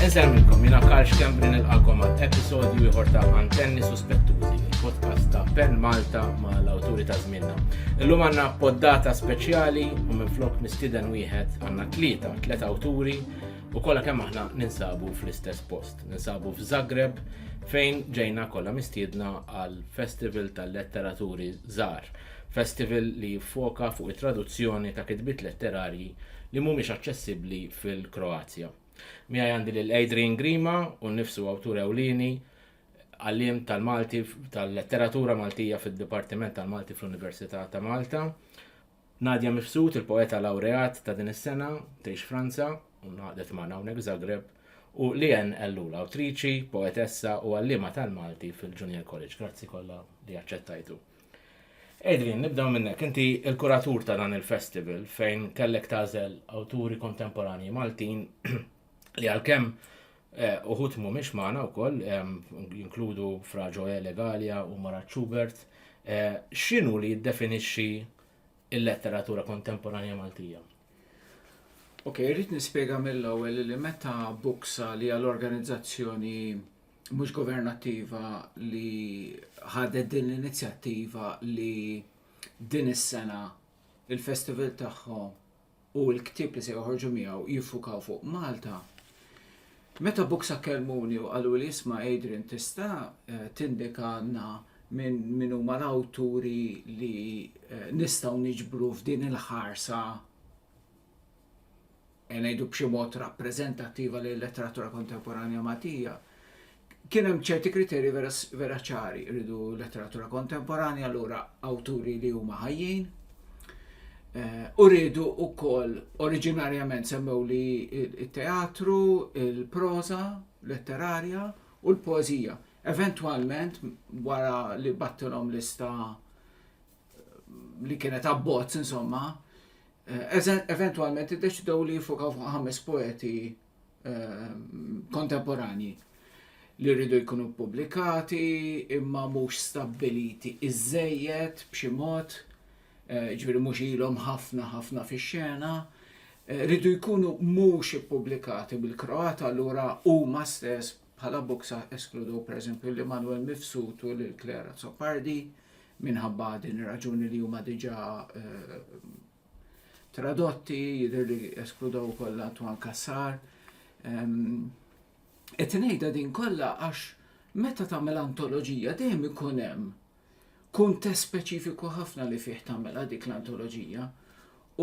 Insellmilkom, jiena Karl Schembri nilqagħkom għal episodju ieħor ta' Antenni Suspettużi, il-podcast ta' Pen Malta ma' l-awturi ta' żmienna. Illum għandna poddata speċjali u minflok mistieden wieħed għandna tlieta, tliet awturi u kollha kemm aħna ninsabu fl-istess post. Ninsabu f'Zagreb fejn ġejna kollha mistiedna għal Festival tal-Letteraturi Żar. Festival li jiffoka fuq it-traduzzjoni ta' kitbiet letterarji li mhumiex aċċessibbli fil-Kroazja. Miegħi għandi lil Adrian Grima, hu nnifsu awtur ewlieni, għalliem tal-Malti tal-letteratura Maltija fid-Dipartiment tal-Malti fl-Università ta' Malta, Nadia Mifsud, il-poeta lawreat ta' din is-sena, tgħix Franza u ngħaqdet magħna hawnhekk Zagreb, u Leanne Ellul, awtriċi, poetessa u għalliema tal-Malti fil-Junior College. Grazzi kollha li aċċettajtu. Adrian, nibdew minnek. Inti l-kuratur ta' dan il-festival fejn kellek tażel awturi kontemporanji Maltin li għalkemm eh, uħut mhumiex magħna wkoll eh, jinkludu Fra Ġoe Legalia u Marat Schubert. Eh, X'inhu li jiddefinixxi l-letteratura kontemporanja Maltija? Ok, irrid nispjega mill-ewwel li meta Buksa li għal organizzazzjoni mhux governattiva li ħadet din l-inizjattiva li din is-sena il-festival tagħhom u l-ktieb li se joħorġu miegħu jiffukaw fuq Malta. Meta buksa kelmuni u qalu li jisma' Adrian tista' eh, tindika għandna minn min huma l-awturi li eh, nistgħu niġbru f'din il-ħarsa ngħidu b'xi mod rappreżentattiva lil-letteratura kontemporanja Maltija, kien hemm ċerti kriterji vera vera ċari, rridu letteratura kontemporanja allura awturi li huma ħajjin, u rridu wkoll oriġinarjament semmew li t-teatru, il-proża letterarja u l-poeżija. Eventwalment wara li battilhom lista li kienet abbozz insomma, eh, eventualment iddeċidew li jifokaw fuq ħames poeti eh, kontemporanji li rridu jkunu publikati imma mhux stabbiliti iżejjed b'xi mod, eh, ġifieri mhux ilhom ħafna ħafna fix-xena, rridu jkunu mhux ippubblikati bil-Kroat allura huma stess Bħala boksa eskludew pereżempju lil Manuel Mifsud u lil Claire Azzopardi minħabba din ir-raġuni li huma diġà tradotti, jidher li eskludew ukoll Antoine Cassar. Qed ngħidha din kollha għax meta tagħmel antoloġija dejjem ikun hemm kuntest speċifiku ħafna li fih tagħmilha dik l-antoloġija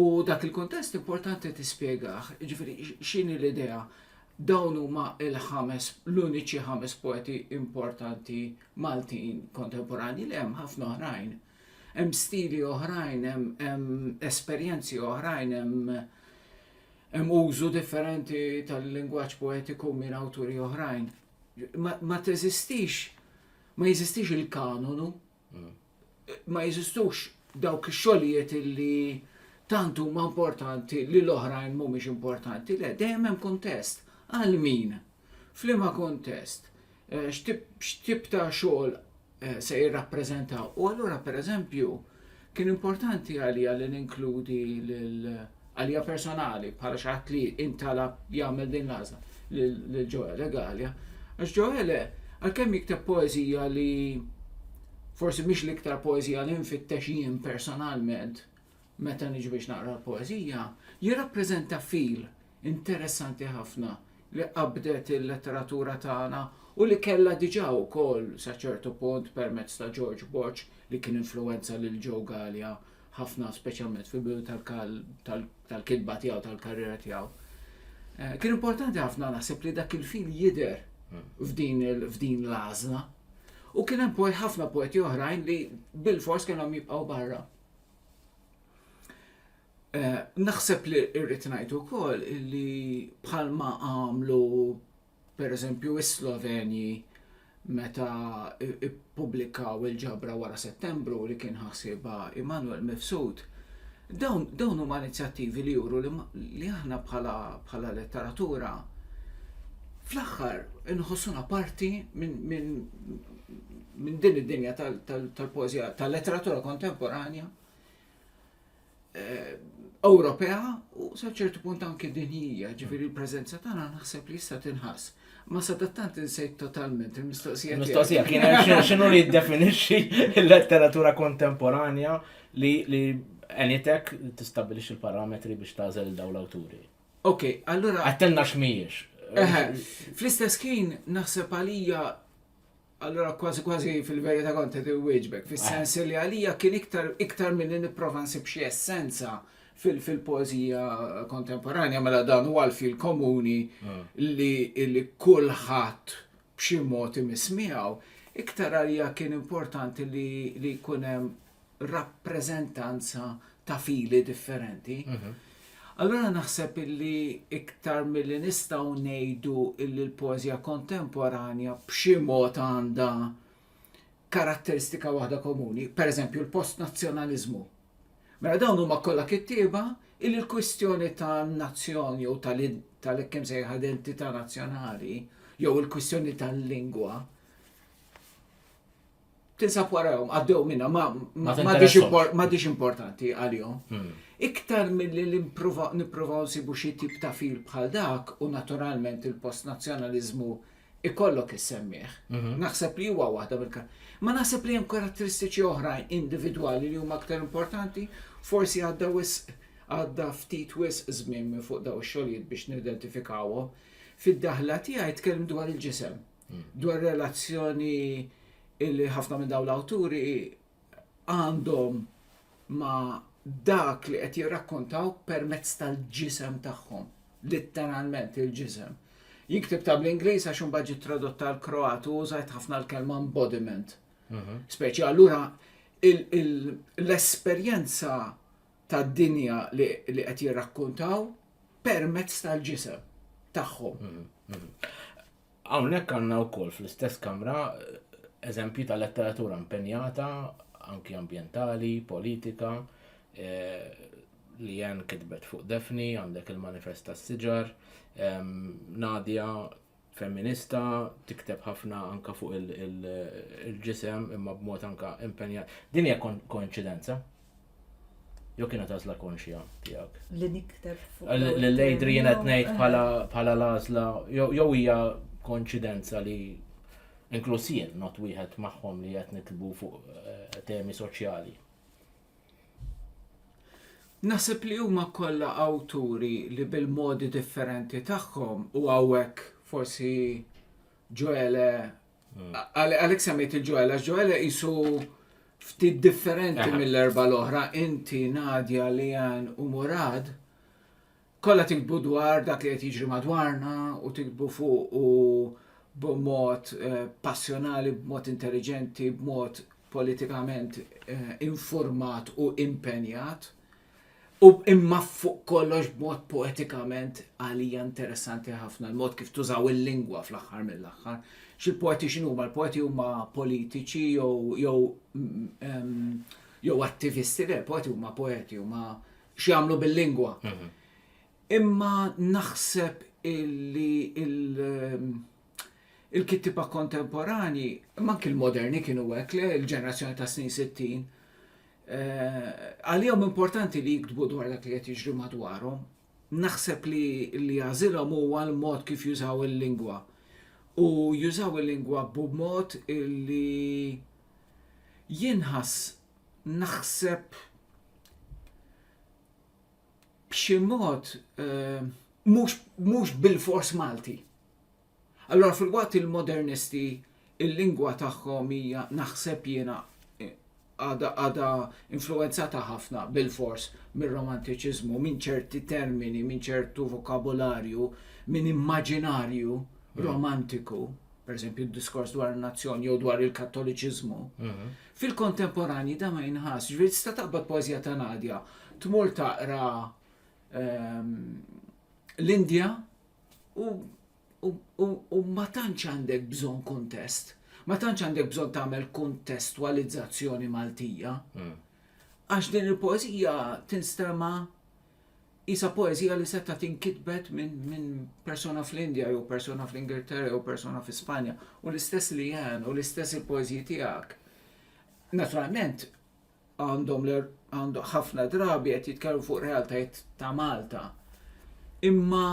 u dak il-kuntest importanti tispjegah, ġifieri x'inhi l-idea dawn huma l-ħames l-uniċi ħames poeti importanti Maltin kontemporanji li hemm ħafna oħrajn. Hemm stili oħrajn, hemm esperjenzi oħrajn, hemm hemm użu differenti tal-lingwaġġ poetiku minn awturi oħrajn. Ma, ma teżistix Ma jeżistix il-kanonu, ma jeżistux dawk ix-xogħlijiet li tant huma importanti li l-oħrajn mhumiex importanti, le dejjem hemm kuntest. Għal min? F'liema kuntest? Eh, x'tip ta' xogħol eh, se jirrappreżentaw? U allura pereżempju Kien importanti għalija li ninkludi lil għalija personali bħala xi ħadd li intalab jagħmel din l-għażla lil Ġoele Galea. Għax Ġoele għalkemm jikteb poeżija li forsi mhix l-iktar poeżija li nfittex jien personalment meta niġi biex naqra l-poeżija, jirrappreżenta fil interessanti ħafna li qabbdet il-letteratura tagħna u li kellha diġà wkoll, sa ċertu punt, permezz ta' George Borg li kien influwenza lil Joe Galea ħafna speċjalment fil-bidu tal-kitba tiegħu, tal-karriera tiegħu. Eh, kien importanti ħafna naħseb li dak il-fil jidher f'din l-għażla. U kien hemm poet ħafna poeti oħrajn li bil-fors kellhom jibqgħu barra. Naħseb li rrid ngħid ukoll li bħalma għamlu pereżempju s-Slovenji meta ppubblikaw il-ġabra wara Settembru li kien ħasibha Emanuel Mifsud, dawn huma inizjattivi li juru li aħna bħala letteratura fl-aħħar inħossuna parti minn din id-dinja tal-poeżija, tal-letteratura kontemporanja. Ewropea u sa ċertu punt anke dinjija, ġifieri l-preżenza tagħna naħseb li issa tinħass. Ma sadattant insejt totalment il-mistoqsija. Mistoqsija kien x'inhu li jiddefinixxi l-letteratura kontemporanja li għenitek tistabilix il-parametri biex tażel daw l-awturi. Ok, allura. Għattenna x'mijiex. Fl-istess ħin naħseb għalija Allura kważi kważi fil-verità kont qed iwieġbek, fis-sens li għalija kien iktar iktar milli nipprova nsib xi essenza fil-poeżija kontemporanja mela dan huwa l-fil komuni ah. li kulħadd b'xi mod imiss miegħu. Iktar għalija kien importanti li jkun hemm rappreżentanza ta' fili differenti. Mhm. Allura naħseb illi iktar milli nistgħu ngħidu illi l-poeżija kontemporanja b'xi mod għandha karatteristika waħda komuni, per eżempju l-post nazzjonaliżmu. Mela dawn huma kollha kittieba illi l-kwistjoni tan-nazzjon jew tal-ekkim sejħa identità nazzjonali jew il-kwistjoni tal-lingwa tinsab warahom, għaddew minna, ma m'għadix importanti għalihom. Hmm. Iktar mill-li nippruvaw nsibu xi tip ta' fil bħal dak u naturalment il-post nazzjonaliżmu ikollok issemmiħ. Mhm. Naħseb li huwa waħda mill Ma naħseb li hemm karatteristiċi oħrajn individwali li huma aktar importanti, forsi għadda wis għadda ftit wis żmien minn fuq daw xogħlijiet biex nidentifikawhom. Fid-daħla tiegħi tkellem dwar il-ġisem, dwar relazzjoni illi ħafna minn dawn l-awturi għandhom ma dak li qed jirrakkontaw permezz tal-ġisem tagħhom, litteralment il-ġisem. Jiktib ta' bl-Ingliż għax imbagħad ġiet tradotta l kroat u użajt ħafna l-kelma embodiment. Mhm. Speċi allura l-esperjenza ta' dinja li qed jirrakkontaw permezz tal-ġisem tagħhom. Mhm, mhm. Hawnhekk għandna wkoll fl-istess kamra eżempji ta' letteratura impenjata, anki ambjentali, politika, Leanne kitbet fuq Daphne, għandek il-Manifest tas-Siġar, Nadia femminista, tikteb ħafna anke fuq il-ġisem imma b'mod anke impenjat. Din hija koinċidenza? Jew kienet għażla konxja tiegħek? Li nikter fuq. L-lejdri jien qed ngħid bħala l-għażla jew hija konċidenza li inkluż jien not wieħed magħhom li qed nitbu fuq eh, temi soċjali. Nasib li huma kollha awturi li bil-modi differenti tagħhom u hawnhekk forsi ġoele Għalek semmejt il-ġoela, ġoela jisu ftit differenti mill-erba l-oħra, inti Nadja li għan u Murad, kolla tikbu dwar dak li qed jiġri madwarna u tikbu fuq u b'mod eh, passjonali, b'mod intelligenti, b'mod politikament eh, informat u impenjat. U imma fuq kollox b'mod poetikament għalija interessanti ħafna l-mod kif tużaw il-lingwa fl-aħħar mill-aħħar. X'il-poeti x'inhuma? Il-poeti huma politiċi jew jew jew attivisti, le, poeti huma poeti, huma x'jagħmlu bil-lingwa. Mhm. Imma naħseb illi il- Il-kittiba kontemporanji, imma anki l-moderni kienu hekk le l-ġenerazzjoni ta' snin 60, għalihom importanti li jiktbu dwar dak li qed jiġri madwarhom. Naħseb li li jażilhom huwa l-mod kif jużaw il-lingwa. U jużaw il-lingwa b'mod li jinħass naħseb b'xi mod mhux bil-fors Malti. Allura filwaqt il-modernisti il-lingwa tagħhom hija naħseb jiena għadha għadha influwenzata ħafna bilfors mir-romantiċiżmu, minn ċerti termini, minn ċertu vokabularju, minn immaġinarju romantiku, pereżempju d-diskors dwar in-nazzjon jew dwar il-Kattoliċiżmu. Fil-kontemporanji da ma jinħass, ġifieri tista' taqbad poeżija ta' Nadja, tmur taqra l-Indja, U, u, u, u ma tantx għandek bżonn kuntest. Ma tantx għandek bżonn tagħmel kuntestwalizzazzjoni Maltija. Hmm. Għax din il-poeżija tinstema' isa poezija li seta tinkitbet minn min persona fl-Indja, jew persona fl-Ingilterra, jew persona fi Spanja, u l-istess li jen, u l-istess il-poezji tijak. Naturalment, għandhom għandhom ħafna drabi qed jitkellmu fuq realtajiet ta' Malta. Imma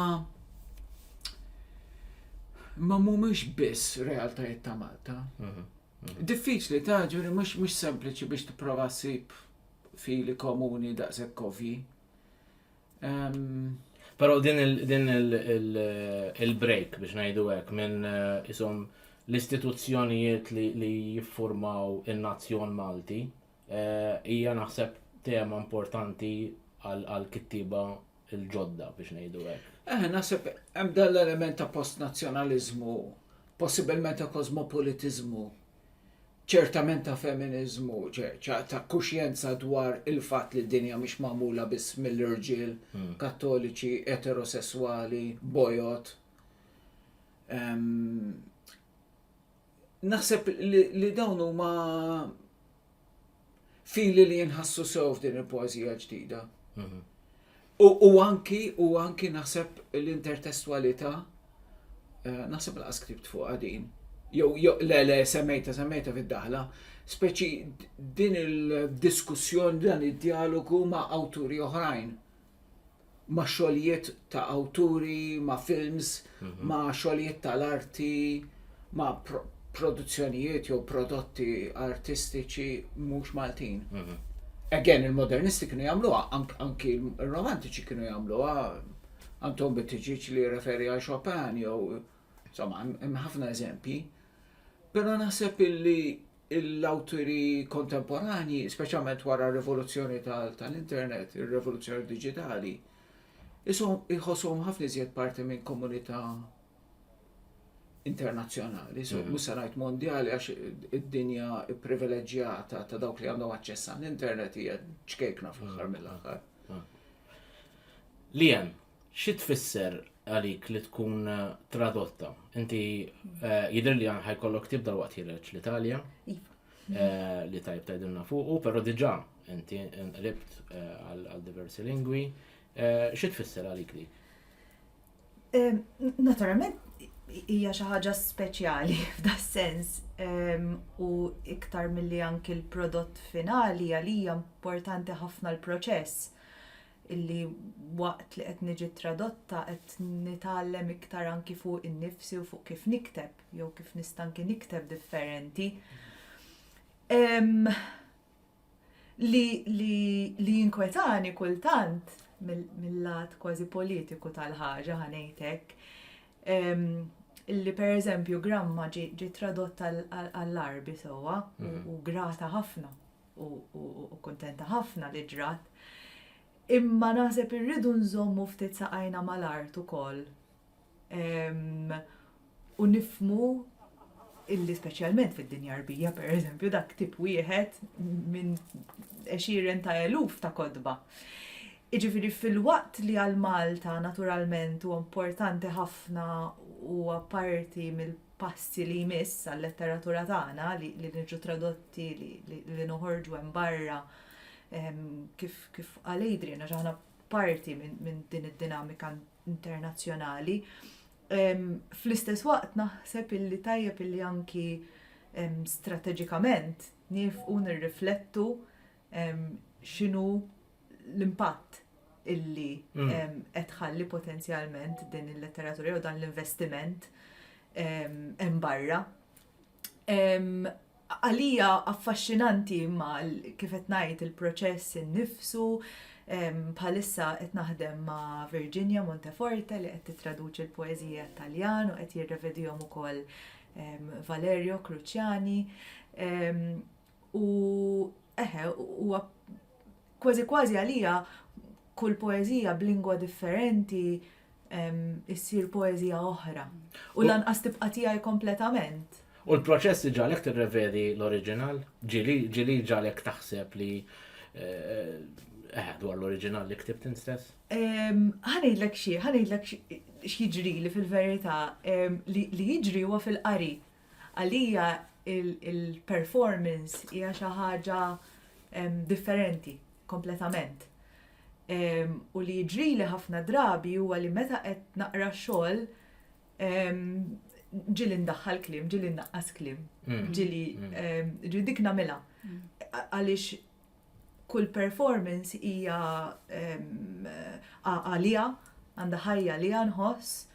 ma mhumiex biss realtajiet ta' Malta. Mhm, mhm. Diffiċli ta' ġuri mhux mhux sempliċi biex tipprova ssib fili komuni daqshekk kovji. Però din il-break biex ngħidu hekk minn eh, isom l-istituzzjonijiet li jiffurmaw in-nazzjon Malti eh, hija naħseb tema importanti għal kittiba il-ġodda biex ngħidu hekk. Eh, naħseb hemm dal-element ta' post-nazzjonaliżmu, possibilment ta' kosmopolitiżmu ċertament ta' feminiżmu, ta' kuxjenza dwar il-fatt li d-dinja mhix magħmula biss mill-irġiel hmm. kattoliċi, eterosesswali, bojot. Naħseb li dawn huma fili li jinħassu sew f'din il-poeżija ġdida. Mhm. U anki, u anki naħseb l-intertestwalità, eh, naħseb l skript fuq għadin, jew le le semmejta semmejta fid-daħla, speċi din il-diskussjoni dan id-dialogu ma' awturi oħrajn. ma' xogħlijiet ta' awturi, ma' films, mhm. ma' xogħlijiet tal-arti, ma' produzzjonijiet jew prodotti artistiċi mhux Maltin. Mhm. Again, il-modernisti kienu jagħmluha, anki il-romantiċi kienu jagħmluha, Anton Bittiġiġ li referi għal Chopin jew insomma hemm ħafna eżempji. Però naħseb illi l-awturi kontemporanji, speċjalment wara r-rivoluzzjoni tal-internet, ir-rivoluzzjoni diġitali, jħossuhom ħafna iżjed parti minn komunità internazzjonali, so mhm. mhux se ngħid mondjali għax id-dinja privileġġjata ta' dawk li għandhom aċċess għall-internet hija ċkejkna fl-aħħar mhm. mill-aħħar. Mhm. Li hemm, Xi tfisser għalik li tkun tradotta? Inti jidher li ħajkollok tib dal-waqt jireġ l-Italja. Iva. Eh, li tajb tajdilna fuqu, pero diġa inti nqlibt eh, għal diversi lingwi. Eh, xi tfisser għalik dik? Naturalment, hija xi ħaġa speċjali f'da sens u iktar milli anki l-prodott finali għalija importanti ħafna l-proċess. illi waqt li qed niġi tradotta qed nitgħallem iktar anki fuq innifsi u fuq kif nikteb jew kif nista' anki nikteb differenti. Li li jinkwetani kultant mill-lat kważi politiku tal-ħaġa ħanejtek li per eżempju gramma ġi tradotta għall-arbi sewwa u mm-hmm. grata ħafna u kuntenta ħafna li ġrat. Imma naħseb irridu nżommu ftit saqajna mal-art ukoll u nifmu illi speċjalment fid-dinja rbija, per eżempju, dak tip wieħed minn eċiren ta' eluf ta' kodba. Iġifiri fil-waqt li għal Malta naturalment u importanti ħafna u apparti mill passi li jmiss għal-letteratura tagħna li niġu tradotti li noħorġu hemm barra ehm, kif qal Adrian għax aħna parti minn din id-dinamika internazzjonali. Ehm, fl-istess waqt naħseb illi tajjeb illi anki ehm, strateġikament nifqu nirriflettu x'inhu l-impatt illi qed tħalli potenzjalment din il-letteratura jew dan l-investiment hemm barra. Għalija affaxxinanti ma kif qed ngħid il-proċess innifsu, bħalissa qed naħdem ma' Virginia Monteforte li qed titraduċi l-poeżija Taljan u qed jirrevedihom ukoll Valerio Cruciani. U eħe, huwa kważi kważi għalija kull poeżija b'lingwa differenti issir poeżija oħra. U lanqas tibqa' tiegħi kompletament. U l-proċess iġalek tirrevedi l-oriġinal? Ġili ġalek taħseb li eh, dwar l-oriġinal li ktibt instess? Ħanidlek xie, ħanidlek x'jiġri li fil-verità li jiġri huwa fil-qari Għalija il-performance hija xi ħaġa differenti kompletament. U li jiġrili ħafna drabi huwa li meta qed naqra xogħol ġili ndaħħal kliem, ġili naqqas kliem, mm. ġili mm. ġili dik nagħmilha. Mm. Għaliex kull performance hija għalija, għandha ħajja li nħoss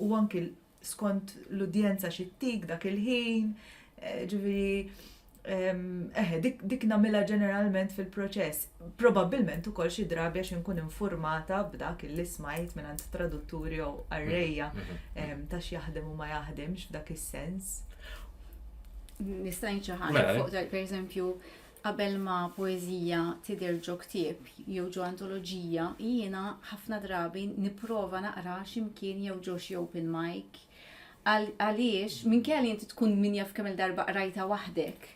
u anki skont l-udjenza xi ttik dak il-ħin, eh, ġifieri eħe, dik namila ġeneralment fil-proċess. Probabbilment ukoll xi drabi għax inkun informata b'dak il smajt minn għand tradutturi jew arrejja mhm, mhm. ta' x'jaħdem u ma jaħdimx f'dak is-sens. Nistajn xi ħaġa mela. fuq tal pereżempju Qabel ma poeżija tidher ġo ktieb jew ġo antoloġija, jiena ħafna drabi nipprova naqraha xi mkien jew ġo xi open mic. Għaliex, minkejja li inti tkun min jaf kemm-il darba qrajtha waħdek,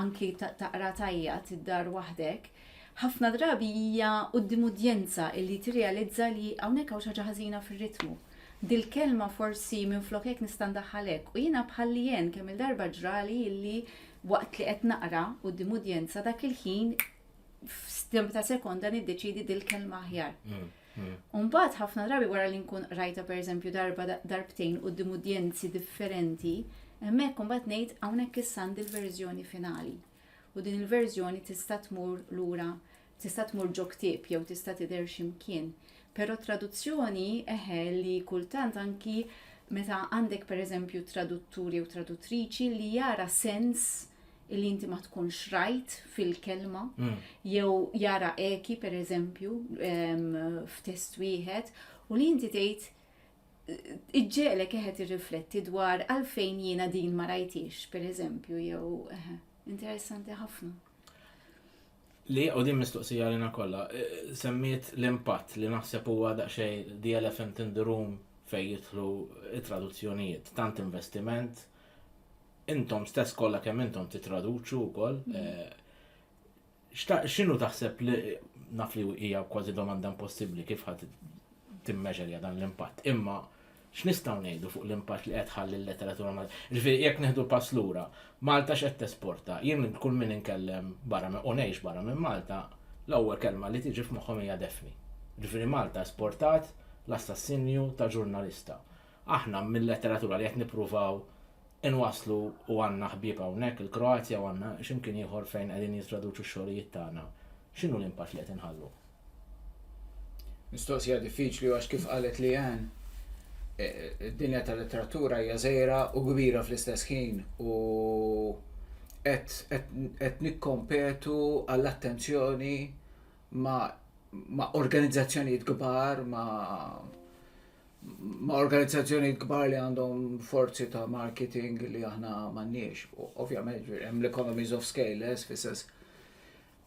anki taqra tgħajjat id-dar waħdek, ħafna drabi hija quddiem udjenza illi tirrealizza li hawnhekk hawn xi ħaġa ħażina fir-ritmu. Dil-kelma forsi minflok hekk nista' ndaħħal hekk. U jiena bħal Leanne kemm-il darba ġrali illi Waqt li qed naqra quddiem udjenza dak il-ħin f'stimp ta' sekonda niddeċidi dil-kelma aħjar. Mm, mm. Umbagħad ħafna drabi wara li nkun qrajta pereżempju darba darbtejn quddiem udjenzi differenti, hemmhekk umbagħad ngħid hawnhekk issa għandi l-verżjoni finali. U din il-verżjoni tista' tmur lura Tista' tmur ġo ktieb jew tista' tidher xi mkien. Però traduzzjoni, eħe, li kultant anki meta għandek pereżempju traduttur jew traduttriċi li jara sens li inti ma tkunx rajt fil-kelma, mm. jew jara eki pereżempju f'test wieħed, u li inti tgħid iġġelek eħet irrifletti dwar għalfejn jiena din ma rajtix, per eżempju, jew interessanti ħafna. Li, u din mistoqsija għalina kollha, semmiet l-impatt li naħseb huwa daqsxejn the elephant in the room fejn jidħlu t-traduzzjonijiet. Tant investiment, intom stess kollha kemm intom titraduċu wkoll. Mm-hmm. X'inhu taħseb li naf li hija kważi domanda impossibbli kif ħadd timmeġerja dan l-impatt. Imma X'nistgħu ngħidu fuq l-impatt li qed tħalli l-letteratura Maltija? Jiġifieri jekk nieħdu pass lura, Malta x'qed tesporta? Jien lil kull min inkellem barra minn u ngħix barra minn Malta, l-ewwel kelma li tiġi f'moħħhom hija Daphne. Jiġifieri Malta esportat l-assassinju ta' ġurnalista. Aħna mil-letteratura li qed nippruvaw Inwasslu u għandna ħbieb hawnhekk, il-Kroazja u għandna x'imkien ieħor fejn qegħdin jistraduċu x-xogħlijiet tagħna. X'inhu l-impatt li qed inħallu? Mistoqsija diffiċli għax kif qalet Leanne, id-dinja tal-letteratura hija żgħira u kbira fl-istess ħin u qed nikkompetu għall-attenzjoni ma' organizzazzjonijiet kbar, ma' ma' organizzazzjonijiet kbar li għandhom forzi ta' marketing li aħna m'għandniex. Ovvjament hemm l-economies of scale, eh, fis-sens.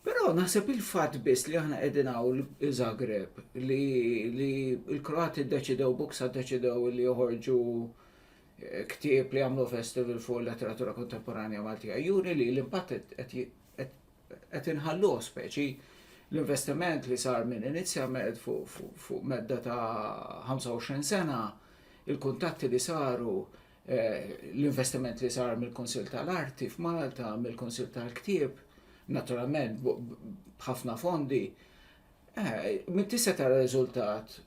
Però naħseb il-fatt biss li aħna qegħdin hawn Zagreb li l-Kroati ddeċidew buksa ddeċidew li joħorġu eh, ktieb li jagħmlu festival fuq letteratura kontemporanja Maltija. Juri li l-impatt qed qed inħalluh speċi l-investiment li sar minn inizjament fuq medda ta' 25 sena, il-kuntatti li saru, l-investiment li sar mill-Kunsill tal-Arti f'Malta, mill-Kunsill tal-Ktieb, naturalment b'ħafna fondi, min tista' tara riżultat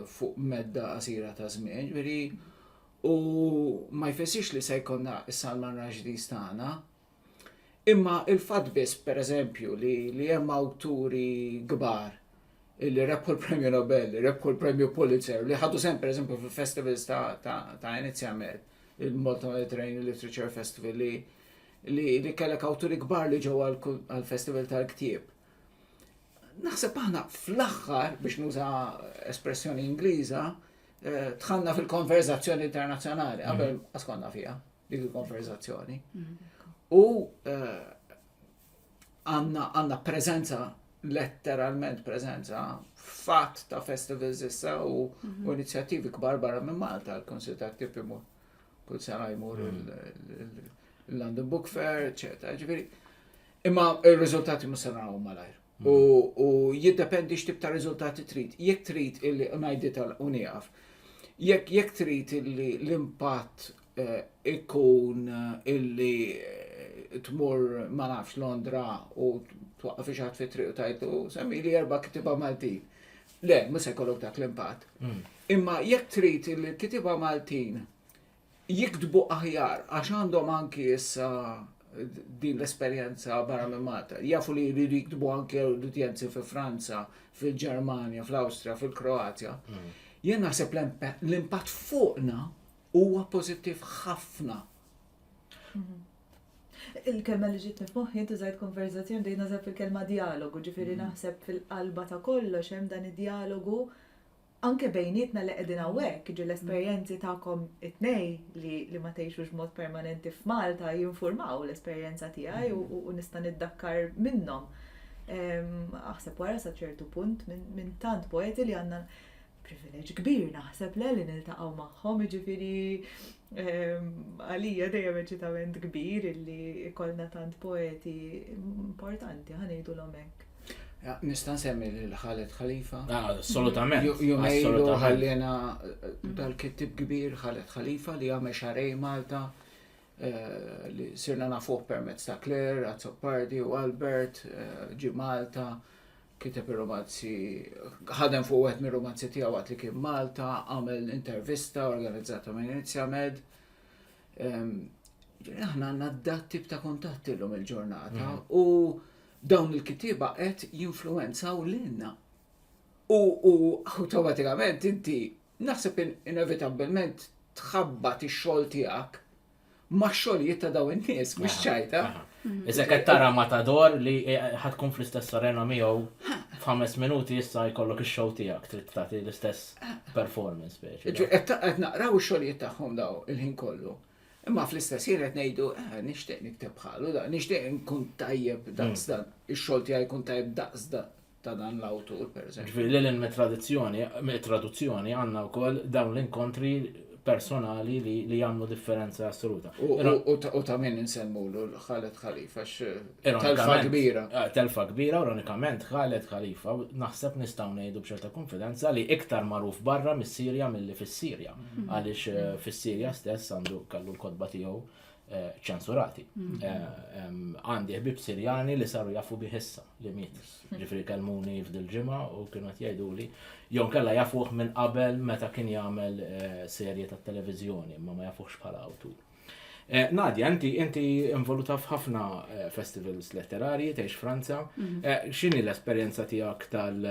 fuq medda qasira ta' żmien? Ġifieri, u ma jfissirx li se jkollna s-Salman Rushdys tagħna. Imma il-fatt biss, per eżempju, li li hemm awturi kbar li rebħu l-Premju Nobel, li rebħu l-Premju Pulitzer, li ħadu sehem per eżempju fil-festivals ta', ta', ta' Inizja Med, il-Malta Mediterranean Literature Festival li li, li kellek awturi kbar li ġew għal-festival tal-ktieb. Naħseb aħna fl-aħħar, biex nuża espressjoni Ingliża, eh, tħanna fil-konverzazzjoni internazzjonali, qabel mhm. askonna fija. dik il-konverzazzjoni. U eh, għanna prezenza, letteralment prezenza, fatt ta' festivals issa u mhm. inizjattivi kbar barra minn Malta, l-Konsil ta' Tip imur kull sena jmur il-London mm. Book Fair, eccetera. Ġifiri, imma il-rizultati musanaraw malajr. U, u jiddependi x'tib ta' riżultati trid. Jekk trid illi ngħidi tal u nieqaf. Jekk jekk trid illi l-impatt eh, ikun eh, illi eh, tmur ma nafx Londra u twaqqa fi xaħat fi triq u tajtu semmi li erba kitiba Maltin. Le, mhux se jkollok dak l-impatt. Hmm. Imma jekk trid illi l-kitiba Maltin jiktbu aħjar għax għandhom anki issa din l-esperjenza barra minn Malta. Jafu li jridu jiktbu anki l-udjenzi fi Franza, fil-Ġermanja, fl-Awstrija, fil-Kroazja. Hmm. Jien naħseb l-impatt fuqna huwa pożittiv ħafna. Hmm. Il-kelma li ġitni f'moħħi inti żgħid konverzazzjoni dejna żgħid fil-kelma dialogu, ġifieri hmm. naħseb fil-qalba ta' kollox hemm dan id-dialogu Anke bejnietna li qegħdin hawnhekk, jiġifieri l-esperjenzi tagħkom it-tnejn li ma tgħixux b'mod permanenti f'Malta jinfurmaw l-esperjenza tiegħi u nista' niddakkar minnhom. Aħseb wara sa ċertu punt minn tant poeti li għandna privileġġ kbir naħseb le li niltaqgħu magħhom, jiġifieri għalija dejjem eċitament kbir illi jkollna tant poeti importanti ħa ngħidulhom hekk. Nista' nsemmi lil Khaled Khalifa. Ah, assolutament. Jumejlu ħallina eh, dal-kittib kbir Khaled Khalifa li għamel xarej Malta eh, li sirna nafuq permezz ta' Claire, Azzopardi u Albert, eh, ġi Malta, kiteb il-romanzi, ħadem fuq għet mir romanzi tiegħu għat li kien Malta, għamel intervista organizzata minn Inizja Med. Ehm, aħna għandna d-dat tip ta' kontatti l-lum il-ġurnata mm. u Dawn il-kittieba qed jinfluwenzaw lilna. U awtomatikament inti naħseb inevitabbilment tħabbat ix-xogħol tiegħek max-xogħlijiet ta' dawn in-nies, mhux ċajta. Iżda qed tara Matador li ħad tkun fl-istess arena miegħu f'ħames minuti issa jkollok ix-show tiegħek trid tagħti l-istess performance speċi. Qed naqraw ix-xogħlijiet tagħhom daw il-ħin kollu. Imma fl-istess ħin qed ngħidu eh, nixtieq nikteb bħalu, nixtieq nkun tajjeb hmm. daqs dan, ix-xogħol tiegħi jkun tajjeb daqs dan ta' dan l-awtur, per eżempju. Ġifieri li l tradizzjoni, traduzzjoni għandna wkoll dawn l-inkontri personali li, li jamlu differenza assoluta. U, ta' min nsemmu l-ħalet ħalifa, eh, telfa kbira. Eh, telfa kbira, ironikament, ħalet ħalifa, naħseb nistaw nejdu bċerta konfidenza li iktar maruf barra mis-Sirja mill-li fis-Sirja. Għaliex eh, fis-Sirja stess għandu kallu l-kodba tiegħu eh, ċensurati. Mm. Eh, għandi ħbib Sirjani li saru jafu biħissa li miet. Ġifri kalmuni f'dil ġimgħa u kienu qed jgħiduli jew kella jafuh minn qabel meta kien jagħmel serje tat-televiżjoni imma ma jafuhx bħala awtur. Nadja, inti inti involuta f'ħafna festivals letterarji, tgħix Franza. Mm. X'inhi l-esperjenza tiegħek tal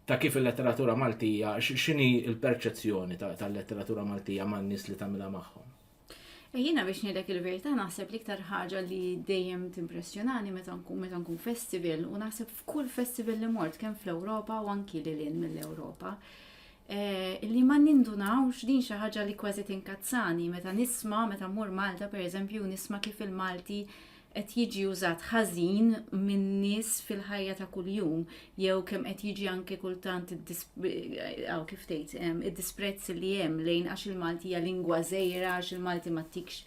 ta' kif il-letteratura Maltija, x'inhi l-perċezzjoni tal-letteratura Maltija man-nies li tagħmilha magħhom? E jiena biex ngħidlek il-verità naħseb l-iktar ħaġa li dejjem timpressjonani meta nkun meta nkun festival u naħseb f'kull festival li mort kemm fl-Ewropa u anki lil mill-Ewropa. Eh, li ma nindunawx din xi ħaġa li kważi tinkazzani meta nisma' meta mmur Malta pereżempju nisma' kif il-Malti qed jiġi użat ħażin min-nies fil-ħajja ta' kuljum jew kemm qed jiġi anke kultant għaw kif tgħid id-disprezz li hemm lejn għax il-Malti hija lingwa żejra għax il-Malti ma tikx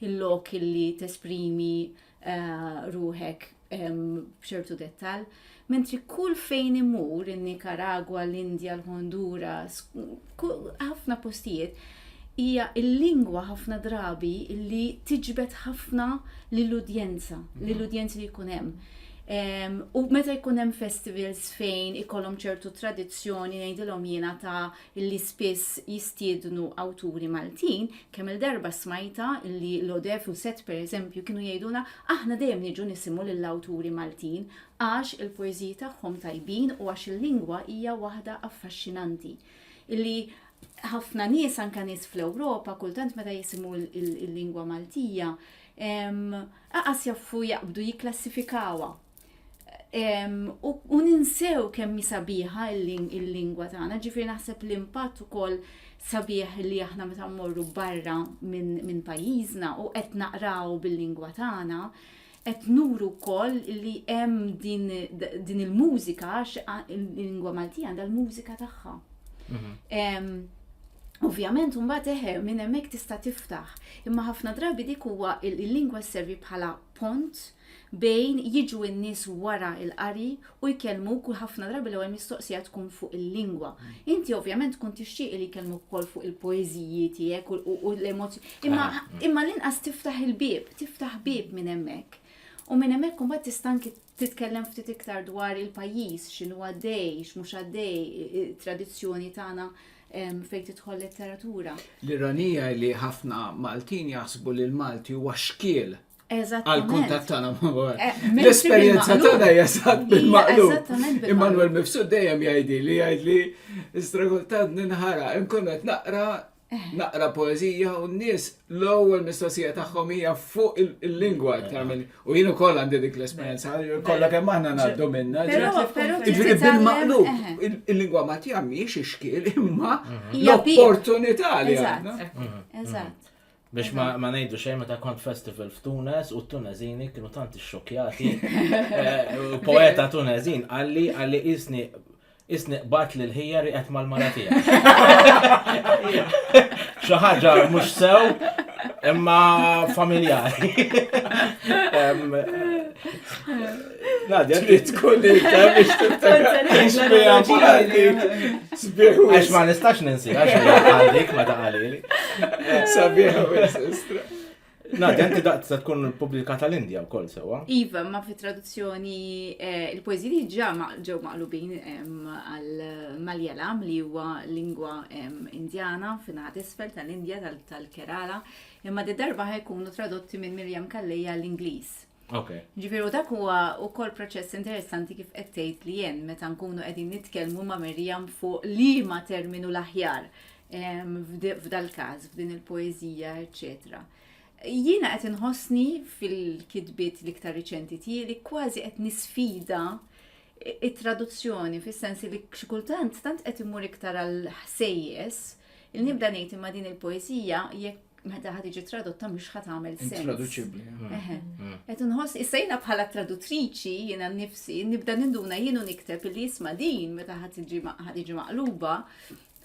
il-lok li tesprimi eh, ruħek b'ċertu dettal. Mentri kull fejn imur, in-Nikaragwa, l-Indja, l-Honduras, ħafna postijiet, hija l-lingwa ħafna drabi li tiġbed ħafna lill-udjenza, mhm. lill-udjenzi li jkun hemm. U meta jkun hemm festivals fejn ikollhom ċertu tradizzjoni ngħidilhom jiena ta' li spiss jistiednu awturi Maltin, kemm il-darba smajta li l-Odef u Set pereżempju kienu jgħiduna aħna dejjem niġu nisimgħu lill-awturi Maltin, għax il-poeżiji tagħhom tajbin u għax il-lingwa hija waħda affaxxinanti, illi ħafna nies, anke nies fl-Ewropa, kultant meta jisimgħu l-lingwa Maltija, aqas jaffu jaqbdu jikklassifikawha. U ninsew kemm sabiħa il-lingwa tagħna, ġifieri naħseb l-impatt ukoll sabiħ li aħna meta mmorru barra minn pajjiżna u qed naqraw bil-lingwa tagħna, qed nuru wkoll li hemm din, din il-mużika għax il-lingwa Maltija għandha l-mużika tagħha. Mhm. Ovvjament mbagħad eħe minn hemmhekk tista' tiftaħ, imma ħafna drabi dik huwa il-lingwa servi bħala pont bejn jiġu n-nies wara il-qari u jkellmuk u ħafna drabi l-ewwel mistoqsija tkun fuq il-lingwa. Inti ovvjament tkun tixtieq li jkellmuk ukoll fuq il-poeżiji tiegħek u l-emozzjoni. Imma imma l-inqas tiftaħ il-bieb, tiftaħ bieb minn hemmhekk. U minn hemmhekk imbagħad tista' anki titkellem ftit iktar dwar il-pajjiż, x'inhu għaddej, x'mhux għaddej, it-tradizzjoni tagħna fejn tidħol letteratura. L-ironija li ħafna Maltin jaħsbu li l-Malti huwa xkiel għal-kuntat tagħna ma' eh, L-esperjenza tagħna hija sat bil-maqlub. Immanuel Mifsud dejjem jgħidi li jgħidli istragoltant ninħara inkun qed naqra eh. naqra poezija u n-nies l-ewwel mistoqsija tagħhom hija fuq il-lingwa aktar minn u jien ukoll għandi dik l-esperjenza kollha kemm aħna ngħaddu minna. Ġifieri bil-maqlub eh. il-lingwa ma tjammiex ix-xkiel imma l-opportunità li għandna. Eżatt. Biex ma ngħidu xejn meta kont festival f'Tunes u t-Tunezini kienu tant ixxokjati. Eh, poeta Tunezin għalli għalli isni isni qbat li l-ħija riqet mal-mara tiegħek. Xi ħaġa mhux sew imma familjari. Nadja, trid tkun li biex Għax ma nistax ninsi, għax għalik ma taqalili. Sabiħa sistra. Nadja, inti daqt se tkun publikata l-Indja u kol sewa. Iva, ma fi traduzzjoni eh, il-poeziji ġa ġew maqlubin għal-Maljalam li huwa lingwa indjana fin-naħat isfel tal-Indja tal-Kerala, imma d-darba ħajkunu tradotti minn Mirjam Kallija l-Ingliż. Okay. Ġifiru dak huwa ukoll proċess interessanti kif qed tgħid li jen meta nkunu qegħdin nitkellmu ma' Mirjam fuq liema terminu l-aħjar f'dal-każ, f'din il-poeżija, eċċetera. Jiena qed inħossni fil-kitbiet l-iktar riċenti tiegħi kważi qed nisfida it-traduzzjoni fis-sens li xi kultant tant qed imur iktar għal ħsejjes il-nibda ngħid imma din il-poeżija jekk meta ħad iġi tradotta mhux ħad għamel sens. Traduċibli. Qed inħoss issa jiena bħala tradutriċi jiena nnifsi nibda ninduna jienu nikteb li jisma' din meta ħad iġi maqluba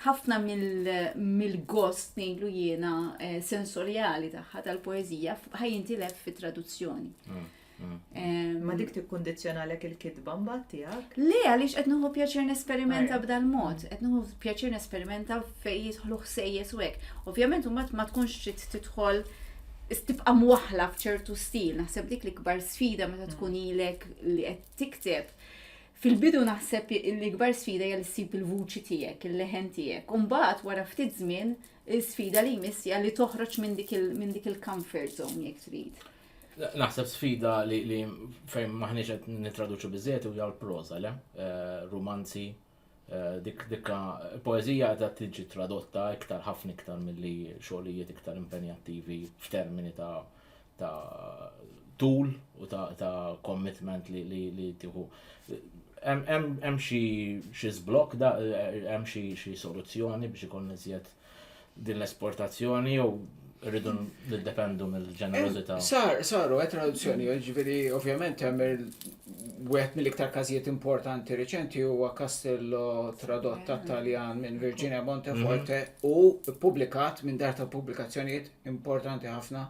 ħafna mill-gost ngħidlu jiena eh, sensorjali tagħha tal-poeżija ħajintilef fit-traduzzjoni. Ma dik tikkundizzjonalek il-kitba mbagħad tiegħek? Le għaliex qed nieħu pjaċir nesperimenta b'dal mod, qed nieħu pjaċir nesperimenta fejn jidħlu ħsejjes u hekk. Ovvjament mbagħad ma tkunx trid tidħol tibqa' mwaħla f'ċertu stil, naħseb dik l-ikbar sfida meta mm. tkun ilek li qed tikteb. Fil-bidu naħseb l-ikbar sfida hija li ssib il-vuċi tiegħek, il-leħen tiegħek. Umbagħad wara ftit żmien l-sfida li jmiss hija li toħroġ minn dik il-comfort zone jekk trid. Naħseb sfida li fejn maħniex qed nittraduċu biżejjed u jaw l-proża, le? Eh, rumanzi, eh, dik dikka poeżija qed tiġi tradotta iktar ħafna iktar milli xogħlijiet iktar impenjattivi f'termini ta' ta' tul u ta', ta commitment li, li, li tiħu. Hemm xi xi żblokk da hemm xi xi soluzzjoni biex ikun iżjed din l-esportazzjoni jew rridu niddependu mill-ġenerożità. Eh, sar, saru, għet eh, traduzzjoni, mm. ġviri, ovvjament, għet mill-iktar kazijiet importanti reċenti u Castello tradott ta' Taljan minn Virginia Monteforte mm-hmm. u publikat minn dar ta' publikazzjonijiet importanti ħafna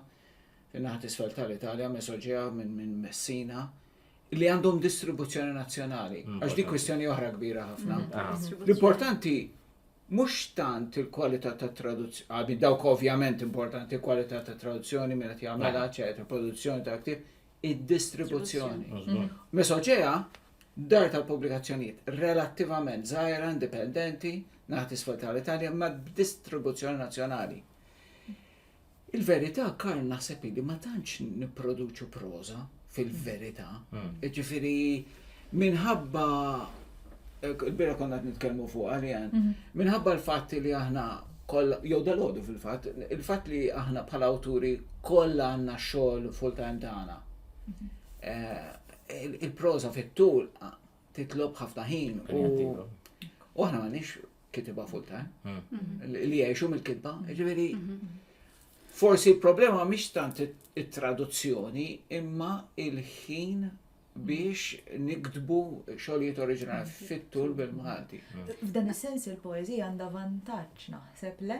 fin-naħat isfel tal-Italja, Mesoġea minn Messina li għandhom distribuzzjoni nazzjonali. Mm, Għax di kwestjoni oħra kbira ħafna. Mm-hmm. Ah. L-importanti Mhux tant il-kwalità tat-traduzzjoni, I mean, dawk ovvjament importanti, il-kwalità tat-traduzzjoni, min qed jagħmilha, eċetera, il-produzzjoni tal-ktieb, id-distribuzzjoni. Mesoġea, dar tal-pubblikazzjonijiet relattivament żgħira, indipendenti, naħat isfel tal-Italja, ma b'distribuzzjoni nazzjonali. Il-verità Karl naħseb li ma tantx nipproduċu proża fil-verità. Hmm. Ġifieri minħabba il-bira konna nitkellmu fuq għalijan, mhm. minħabba l-fatt li aħna kollha jew dalodu fil-fatt, il-fatt li aħna bħala awturi kollha għandna xogħol full-time tagħna. Mhm. Eh, il-proża fit-tul titlob ħafna ħin u aħna m'għandix Kitiba full time. Mm-hmm. Li jgħixu mill-kitba. Ġifieri mm-hmm. forsi l-problema mhix tant it-traduzzjoni imma il-ħin biex niktbu xogħlijiet oriġinali mm-hmm. fit-tul bil-Malti. F'dan is-sens il-poeżija għandha vantaġġ naħseb le,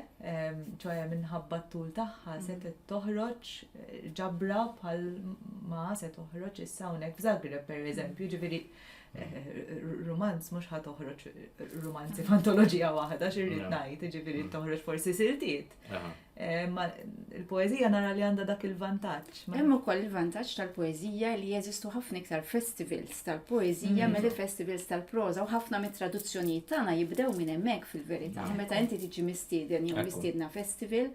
ċoħe minħabba t-tul tagħha se toħroġ eh, ġabra bħal ma se toħroġ issa hawnhekk f'Zagreb pereżempju, ġifieri Rumanz mhux ħa toħroġ rumanzi f'antoloġija waħda x'irrid ngħid, jiġifieri mm. toħroġ forsi siltiet. Eh, ma il-poeżija nara li għandha dak il-vantaġġ. Hemm ukoll il-vantaġġ tal-poeżija li jeżistu ħafna iktar festivals tal-poeżija mm. milli festivals tal-proża u ħafna mit-traduzzjonijiet tagħna jibdew minn hemmhekk fil-verità. Meta inti tiġi mistieden jew mistiedna festival,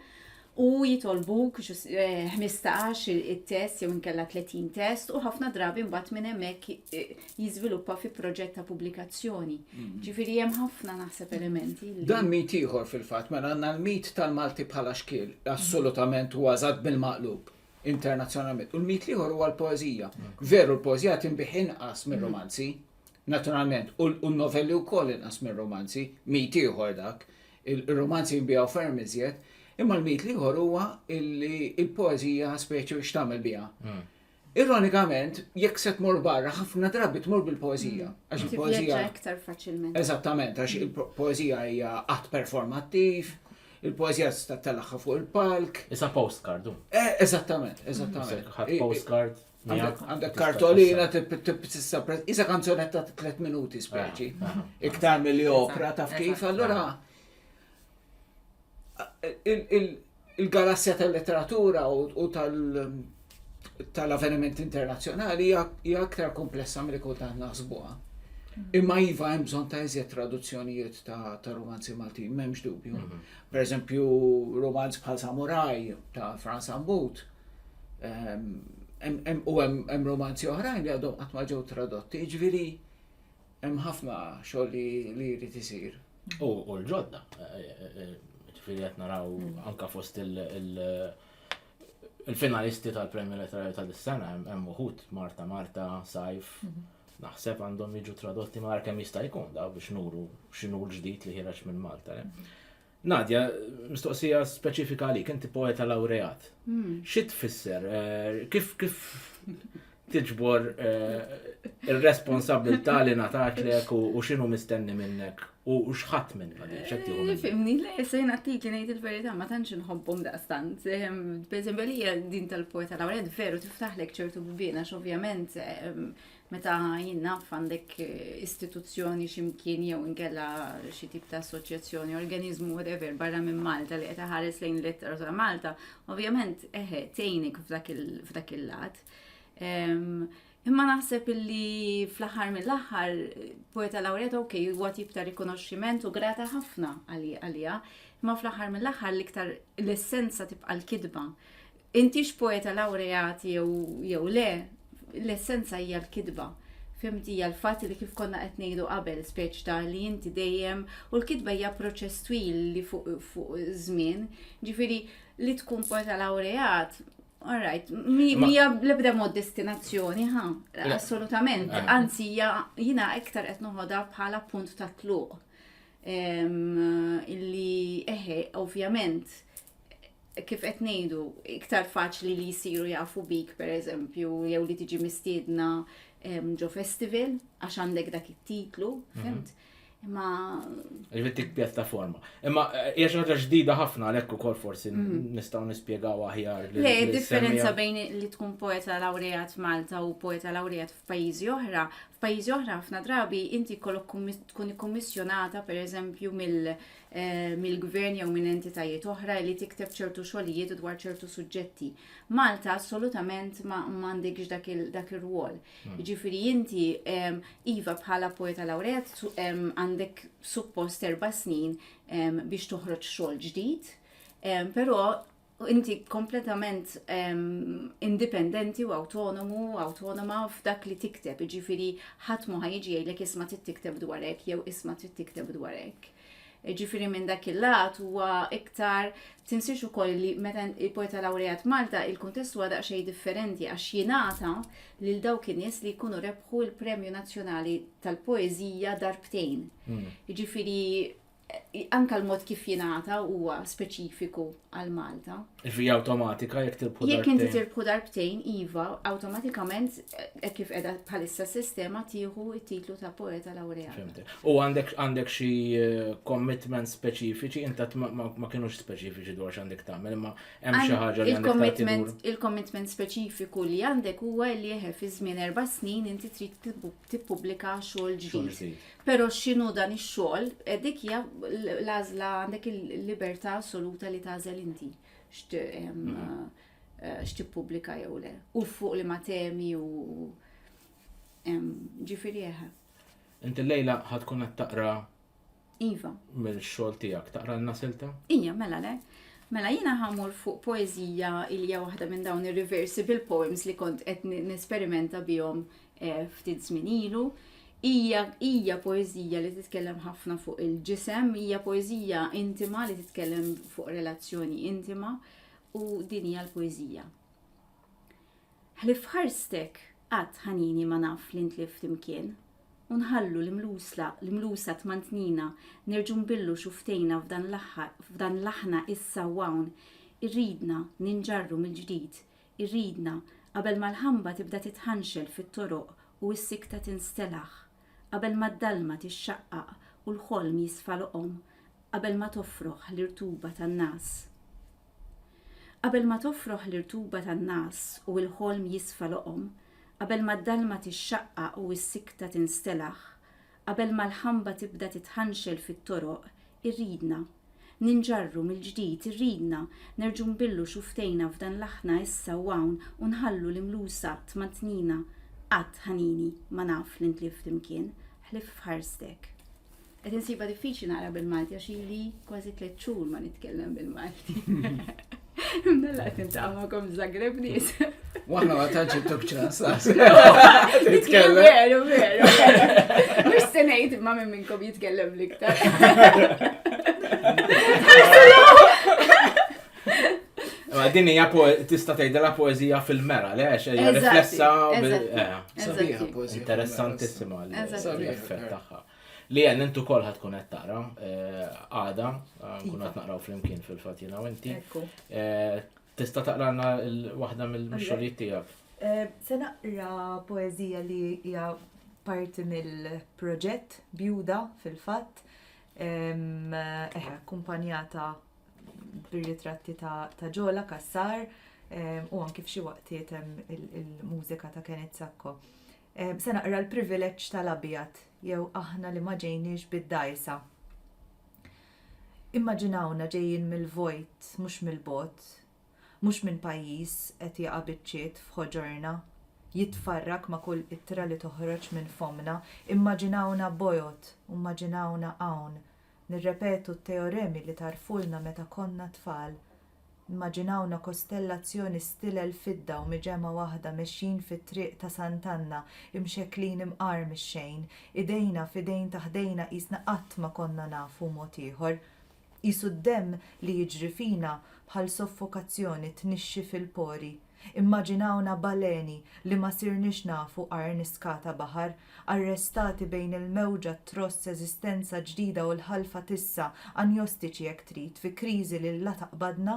u jitolbuk ġus- eh, 15 il- it-test jew inkella 30 test u ħafna drabi mbagħad minn hemmhekk eh, jiżviluppa fi proġett ta' pubblikazzjoni. Ġifieri hemm ħafna naħseb elementi li Dan mit ieħor fil-fatt, mela għandna l-mit tal-Malti bħala xkiel, assolutament huwa eżatt bil-maqlub internazzjonalment. U l-mit ieħor huwa l-poeżija. Veru l-poeżija tinbih inqas mir-romanzi, naturalment, u l- u n-novelli wkoll inqas mir-romanzi, mit ieħor dak. Ir-rumanzi jinbiegħu ferm iżjed, imma l-mit l-ieħor huwa li l-poeżija speċi u x'tagħmel biha. Hmm. Ironikament, jekk se tmur barra, ħafna drabi tmur bil-poezija. Mm. Għax il-poezija. iktar faċilment. Eżattament, għax il-poezija hija att performattiv, il-poezija tista' telaħħa fuq il-palk. Issa postcard. Eh, eżattament, eżattament. Postcard. Għandek kartolina tissa prezz. Isa kanzonetta ta' 3 minuti speċi. Ah, ah, ah. Iktar mill-li opra taf kif. Allora il-galassja tal-letteratura u tal-avveniment internazzjonali hija aktar komplessa mill kultant naħsbuha. Mm. Imma iva hemm bżonn ta' iżjed traduzzjonijiet ta' romanzi Maltin, m'hemmx dubju. Mm-hmm. Per eżempju, romanz bħal Samurai ta' Franz Ambut Ehm, u hemm romanzi oħrajn li għadhom qatt ma ġew tradotti, ġifieri hemm ħafna xogħol li jrid isir. U l-ġodda, eh, eh, eh, ġifieri qed naraw mm. anka fost il- il-finalisti tal-premju letterarju tal-sena hemm uħut Marta Marta, Sajf, mhm. naħseb għandhom jiġu tradotti ma kemm jista' jkun daw biex nuru x'inhu l-ġdid li ħireġ minn Malta. Mhm. Nadia, mistoqsija speċifika għalik, inti poeta laureat. Hmm. Xi tfisser? Eh, kif kif tiġbor eh, ir-responsabilità li natatlek u x'inhu mistenni minnek u x'ħadd minn eh, Fimni, le, se natik li ngħid il-verità ma tantx inħobbhom daqstant. Ehm, Pereżempju li din tal-poeta laureat veru tiftaħlek ċertu bibien għax ovvjament ehm, Meta jien naf għandek istituzzjoni xi mkien jew inkella xi tip ta' assoċjazzjoni, organizmu whatever barra minn Malta li qed iħares lejn l-ittra ta' Malta, ovvjament eħe tgħinik f'dak il-lat. Imma naħseb illi fl-aħħar mill-aħħar poeta laureata ok, huwa tip ta' rikonoxximent u grata ħafna għalija, imma fl-aħħar mill-aħħar l-iktar l-essenza tibqa' l-kidba. Intix poeta lawreat jew jew le, l-essenza hija l-kitba. Fimti hija l-fatt li kif konna qed ngħidu qabel, speċ ta' li inti dejjem u l-kitba hija proċess twil li fuq fuq żmien. Ġifieri li tkun poeta lawreat All right, mija l-ebda mod destinazzjoni, ha, assolutament, anzi jina iktar qed noħodha bħala punt ta' tluq. Illi, eħe, ovvjament, kif qed ngħidu, iktar faċli li jsiru jafu bik pereżempju jew li tiġi mistiedna ġo festival għax għandek dak it-titlu, mhm. fimt? Imma. Ġifieri tik pjattaforma. Imma eh, hija xi ħaġa ġdida ħafna għalhekk ukoll forsi mhm. nistgħu nispjegaw aħjar. Le, differenza bejn li tkun poeta lawrejat Malta u poeta lawrejat f'pajjiżi oħra. F'pajjiżi oħra ħafna drabi inti kollok tkun ikkummissjonata pereżempju mill mill-gvern jew minn entitajiet oħra li tikteb ċertu xogħlijiet dwar ċertu suġġetti. Malta assolutament ma m'għandekx dak ir-rwol. Hmm. Jiġifieri inti iva bħala poeta laureat għandek suppost erba' snin biex toħroġ xogħol ġdid, però inti kompletament indipendenti u autonomu, autonoma f'dak li tikteb, ġifiri ħadd ma ħajġi jgħidlek isma' trid tikteb dwar hekk jew isma' trid tikteb dwar hekk. Ġifiri minn dak il-lat huwa iktar tinsiex ukoll li meta il-poeta laureat Malta il-kuntest huwa daqsxejn differenti għax jingħata lil dawk in-nies li jkunu rebħu l-Premju Nazzjonali tal-Poeżija darbtejn. Hmm. Ġifiri anka l-mod kif jingħata huwa speċifiku għal Malta. Fija awtomatika jekk tirbħu darbtejn. Jekk inti tirbħu darbtejn, iva, awtomatikament eh, kif qiegħda bħalissa s-sistema tieħu t-titlu ta' poeta laurea. U għandek għandek xi eh, commitment speċifiċi, inta ma kienux speċifiċi dwar x'għandek tagħmel, imma hemm xi ħaġa li għandek Il-commitment speċifiku li għandek huwa li jeħe fi żmien erba' snin inti trid tippubblika xogħol ġdid. Pero xinu dan ix-xogħol, eh, dik hija l-għażla għandek il-libertà assoluta li tażel inti mhm. eh, x'tippubblika jew le. U fuq li ma temi u ġifieri eħe. Eh. Inti lejla ħad tkun qed taqra Iva. Mill-xogħol tiegħek taqra l nasilta Ija, mela le. Mela jiena ħamur fuq poezija ilja waħda minn dawn ir-reversible poems li kont qed nesperimenta bihom eh, ftit żmien ilu. Hija hija poeżija li titkellem ħafna fuq il-ġisem, hija poeżija intima li titkellem fuq relazzjoni intima u din hija l-poeżija. Ħlif ħarstek qatt ħanini ma naf li ntlift imkien, u nħallu l-imlusla, l-imlusa tmantnina, nerġu nbillu xuftejna f'dan l-aħħar, f'dan l-aħna issa wawn, irridna ninġarru mill-ġdid, Irridna, qabel ma l-ħamba tibda titħanxel fit-toroq u s-sikta tinstelaħ, qabel ma d-dalma tixxaqqaq u l-ħolm jisfa loqom, qabel ma tofroħ l-irtuba tan-ngħas. Qabel ma tofroħ l-irtuba tan-ngħas u l-ħolm jisfa loqom, qabel ma d-dalma tixxaqqaq u s-sikta tinstelaħ, Qabel ma l-ħamba tibda titħanxel fit-toroq, irridna. Ninġarru mill-ġdid, irridna. Nerġgħu nbillu xufftejna f'dan l-aħna issa u hawn u nħallu l-imlusa tmantnina. Qatt, ħanini, ma naf li ntlift imkien, ħlief f'ħarstek. Qed insibha diffiċli naqra bil-Malti għax ili kważi tliet xhur ma nitkellem bil-Malti. Mdalla qed nintaqa' magħkom Zagreb nies. Waħna ma tantx intuk ċans. Nitkellem veru veru. Mhux se ngħid ma' minn minnkom jitkellem l-iktar. Ma din hija tista' tgħidilha poeżija fil-mera, le għax hija riflessa eh, sabiħa poeżija. Interessantissima l-effett tagħha. Li għen, intu kol ħat kun taqra, għada, kun għat naqraw fl-imkien fil-fat jena u inti. Tista taqrana l-wahda mill-xolijiet tijak? Se naqra poezija li hija parti mill-proġett bjuda fil-fat, eħe, kumpanjata bir-ritratti ta' ġola, kassar, u anki f'xi waqtiet il-mużika ta' Kenneth Sacco. Se naqra l-privileġġ tal-abjad, jew aħna li ma ġejniex bid-dgħajsa. Immaġinawna ġejjin mill-vojt mhux mill-bogħod, mhux minn pajjiż qed jaqa' biċċiet f'ħoġorna, jitfarrak ma' kull ittra li toħroġ minn fommna. Immaġinawna bojod u mmaġinawna hawn nirrepetu t-teoremi li tarfulna meta konna tfal Immaġinawna kostellazzjoni stil il-fidda u miġemgħa waħda mexjin fit-triq ta' Sant'Anna, imxekklin imqar mix-xejn, idejna f'idejn ta' ħdejna qisna qatt ma konna nafu mod ieħor. Qisu d-demm li jiġri fina bħal soffokazzjoni tnixxi fil-pori. Immaġinawna baleni li ma sirniex nafu qarn iskata baħar, arrestati bejn il-mewġa, t-tross, eżistenza ġdida u l-ħalfa tissa, anjostiċi jekk trid, fi kriżi li la taqbadna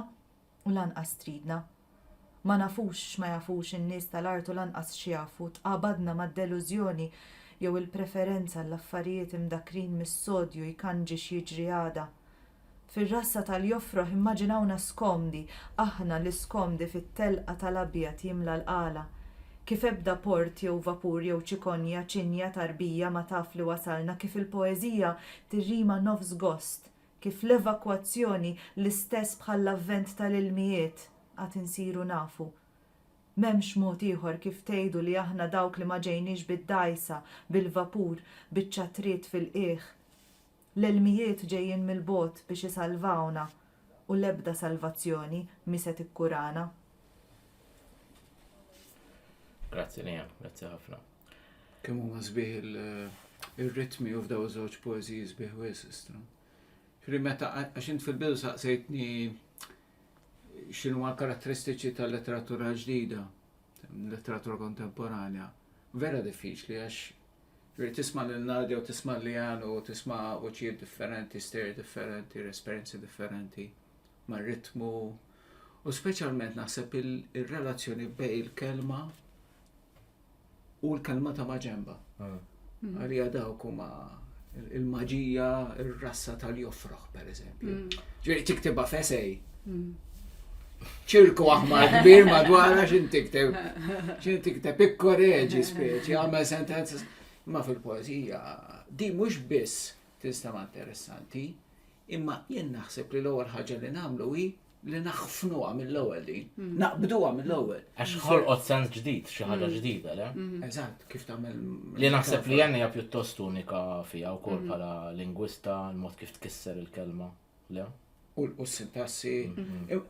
u lanqas tridna. Ma nafux x'ma jafux in-nies tal-art u lanqas x'jafu, tqabadna mad-delużjoni jew il-preferenza għall-affarijiet imdakkrin mis-sodju jkanġi x'jiġri għada. Fir-rassa tal-jofroħ immaġinawna skomdi, aħna l-iskomdi fit-telqa tal-abjad jimla l-qala. Kif ebda port jew vapur jew ċikonja, ċinja, tarbija ma taf li wasalna, kif il-poeżija tirrima nofs gost, kif l-evakwazzjoni l-istess bħall-avvent tal-ilmijiet, għad insiru nafu. M'hemmx mod ieħor kif tgħidu li aħna dawk li ma ġejniex bid-dgħajsa, bil-vapur, biċ-ċatriet fil-qiegħ. L-ilmijiet ġejjin mill-bogħod biex isalvawna u l-ebda salvazzjoni mhi se tikkurana. Grazzi Liam, grazzi ħafna. Kemm huma sbieħ ir-ritmi u f'daw żewġ poeżiji sbieħ wisq. Ġri meta għax int fil-bidu saqsejtni x'inhu ma karatteristiċi tal-letteratura ġdida, letteratura kontemporanja. Vera diffiċli għax Ġifieri tisma' lil Nadia u tisma' lil Lian u tisma' vuċijiet differenti, stejjer differenti, esperjenzi differenti, ma' ritmu u speċjalment naħseb ir-relazzjoni bejn il-kelma u l-kelma ta' maġenba. Ah. Mm. Għalija dawk huma il-maġija, ir-rassa tal-jofroħ, per eżempju. Mm. Ġifieri tiktibha fesej. Mm. ċirku aħmar kbir madwara xin tikteb. Xin tikteb ikkoreġi speċi, għamel sentenza. Ma fil-poezija, di mux biss tinstema interessanti, imma jien naħseb li l-ewwel ħaġa li nagħmlu hi li naħfnuha mill-ewwel din, mm. naqbduha mill-ewwel. Għax ħolqot sens ġdid, xi ħaġa mm. ġdida, le? Mm-hmm. Eżatt, kif tagħmel. Li naħseb li għandha pjuttost unika fiha wkoll mm-hmm. bħala lingwista, l-mod kif tkisser il-kelma. Le? u l-qus il-passi.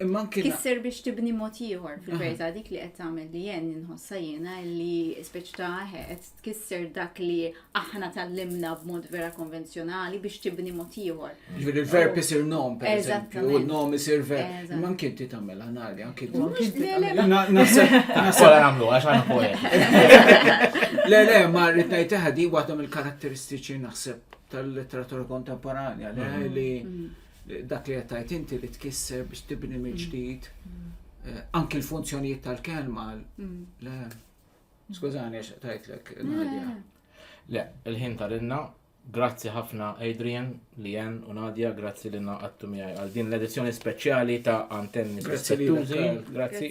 Imma anki. Kisser biex tibni mod ieħor fil-verità dik li qed tagħmel li jen inħossa jiena li speċi ta' qed tkisser dak li aħna tallimna b'mod vera konvenzjonali biex tibni mod ieħor. Ġifieri l-verb isir nom pereżempju, u nom isir verb. Imma anki inti tagħmel anali, anki inti. Nasab nagħmlu għax għandna poet. Le, le, ma rrid ngħid di waħda mill-karatteristiċi naħseb tal-letteratura kontemporanja, li mm-hmm. mm-hmm. dak li qed inti li tkisser biex tibni mill-ġdid mm-hmm. eh, anki l-funzjonijiet tal-kelma. Le, skużani għax tajtlek Nadja. Le, il-ħin tal-inna, grazzi ħafna Adrian, Lien u Nadja, grazzi l-inna għattu miħaj għal din l-edizzjoni speċjali ta' Antenni Grazzi.